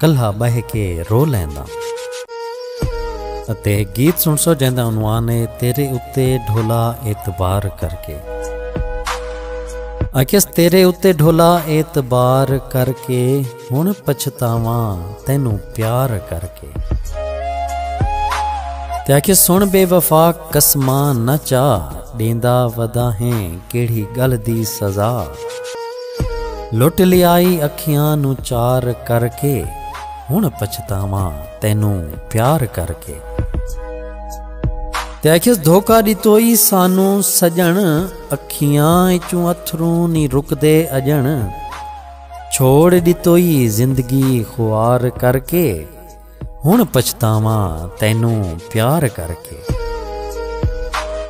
کلھا ٻہہ کے رو لینداں۔ اتے ہک گیت سنڑسو جیندا عنوان اے تیرے اتے ڈھولا اعتبار کر کے۔ آکھیس تیرے اتے ڈھولا اعتبار کر کے ہن پچھتاواں تینوں پیار کر کے۔ تے آکھیس سن بے وفا قسماں نہ چا ݙیندا ودا ہیں کیڑھی ڳل دی سزا۔ لٹ لیائی اکھیاں نو چار کر کے ہن پچھتاواں تینوں پیار کر کے تے آکھیس دھوکا ڈتو ای سانوں سجن اکھیاں اچوں اتھروں نی رکدے اجن چھوڑ ڈتو ای زندگی خوار کر کے۔ ہن پچھتاواں تینوں پیار کر کے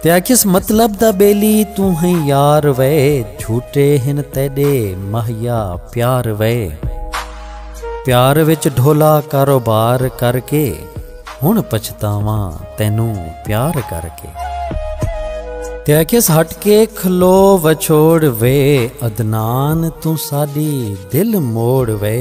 تے آکھیس مطلب دا بیلی تو ہیں یار وے جھوٹے ہن تیڈے مہیا پیار وے پیار وچ ڈھولا کاروبار کر کے ہن پچھتاواں تینوں پیار کر کے تے آکھیس ہٹ کے کھلو وچھوڑ وے عدنان تو ساڈی دل موڑ وے